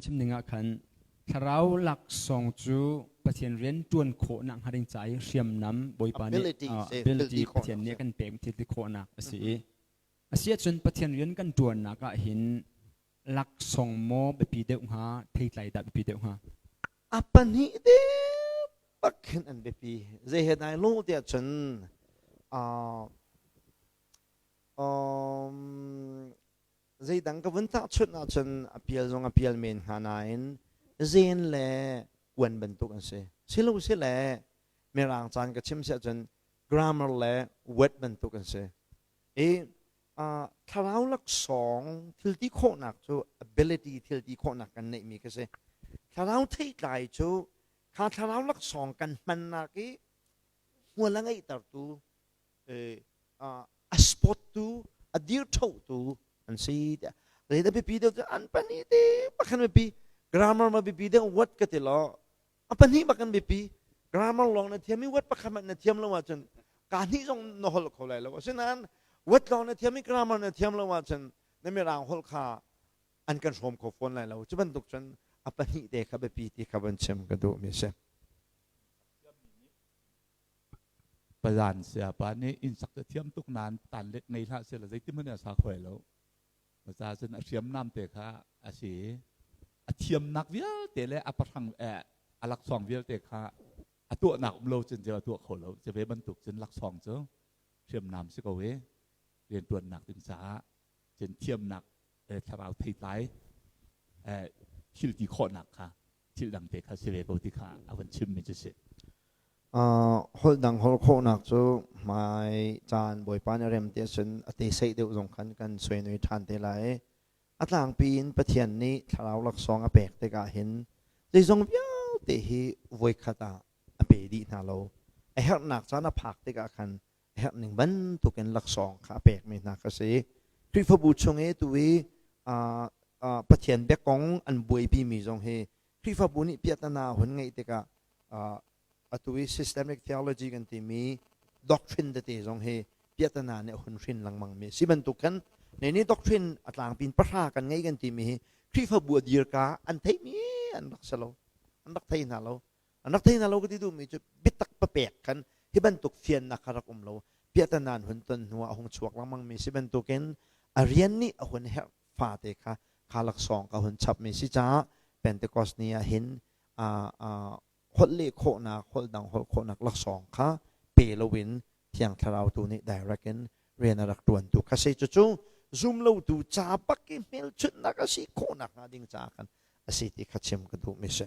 chimning ah khan thlarau laksawng cu Pathian rian ṭuan khawhnak hnga ding ca i hriamnam Bawipa nih ability Pathian nih a kan pek thil ti khawhnak a si i a si ahcun Pathian rian kan ṭuannak ah hin laksawng maw biapi deuh hnga theitlai dah biapi deuh hnga a pahnih te pakhin an biapi zei he dai lo ti ahcun um zeidang ka vun tahchunh ahcun a pial zong a pial men hnga nain zeen le kuan bantuk an si. Silosile mirang caan ka chim si ahcun grammar le word bantuk an si. I uh, thlarau laksawng thilti khawhnak cu ability thilti khawhnak kan neihmi ka si. Thlarau theitlai cu kha thlarau laksawng kan hmannak i hmual a ngeihtertu a sport tu a dirṭho tu an si tiah rel a biapi deuh an pahnih te pakhat biapi grammar ma biapi deuh wat ka ti lo a pahnih bakan biapi grammar lawng na thiam i wat pakhat man na thiam lo ahcun ka hnih zong na hol kho lai lo asinain wat lawng na thiam i grammar na thiam lo ahcun na mirang hol kha an kan hrawm kho fawn lai lo cu bantuk cun a pahnih te kha biapi ti kha van chim ka duhmi a si Palan sayapa nih innsak cu thiam tuk nain tanlet ngei hlah seh law zeitihmanh a sa khuai lo. Masa cun a hriam namte kha a si i a thiamnak vialte le a pahrang eh, a laksawng vialte kha a tuahnak um lo cun ceu a tuah kho lo. Cu ve bantuk cun laksawng cu hriamnam si ko i riantuannak ding caah cun thiamnak thlarau theitlai thil ti khawhnak kha thil dangte kha si ve ko ti kha a van chimmi cu si. holh dang holh khawhnak cu mai caan bawipa nih rem te sun a te sei deuh zong khan kan suenui ṭhan te lai i a tlangpi in Pathian nih thlarau laksawng a pek tikah hin zeizong vialte hi voikhat ah a pe dih hna lo a herhnak caan a phak tikah khan a herh ning bantukin laksawng kha a pekmi hna ka si. Khrihfabu chung i tu i Pathian bia kong an buaipimi zong hi Khrihfabu nih piahtana hun ngeih tikah atu i systemic theology kan timi doctrine tete zong hi piahtana nih a hun hrin lengmangmi a si bantukin ne nih doctrine a tlangpin pahra kan ngei kan timi hi Khrihfabu a dirka an theihmi an rak si lo an rak thei hna lo A rak thei hna lo ka ti duhmi cu biatak papek kan hi bantuk fiannak kha rak um lo. Piahtan an hun ton hnu ah a hung chuak lengmang mi si bantukin a rian nih a hun herh fate kha kha laksawng ka hun chapmi si caah Pentecost ni ah hin aa holh leh khawhnak holh dang holh khawhnak laksawng kha pe loin Thiang Thlarau tu nih direct in rian a rak ṭuan tu kha si. Cucu zumlotu ca bak i hmelchunhnak a si khawhnak hnga ding caah khan a si ti kha chim ka duhmi si.